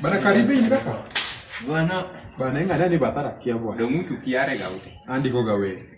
Bana karibini kaka. Bana bana inga nani batara kia bwana. Ndio mtu kiare gaute. Andiko gawe.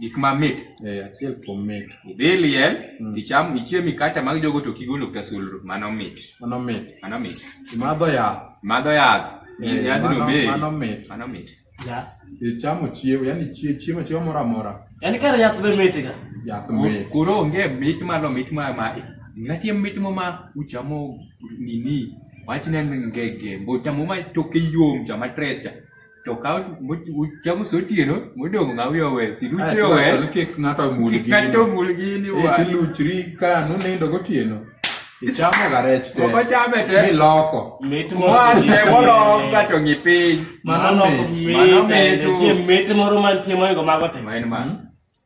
gik mamit eh, achiel kuom mit idhi liel mm. icham ichiem mikate mag jogo to kigolo ka sulru mano mit mano mit mano mit imadho yath madho yath eh, yadhno mit mano mit mano mit ya ichamo chiemo yani chiemo chiemo moro amora yani kar yath be mit ga yath mit koro onge mit malo mit ma ma ngatie mit mo ma uchamo nini wachne ngege mbochamo ma toke yom chama tres cha toka uchamo sotieno modong' ng'a wiya wes iluchi owes kik ng'ato omul gini ng'ato omul gini wa iluchri ka nunindo gotieno ichamo ga rech te moko chame te miloko mit mwache molok gato ng'i piny mano mit mano mit mit moro mantie moingo mago te ma en mano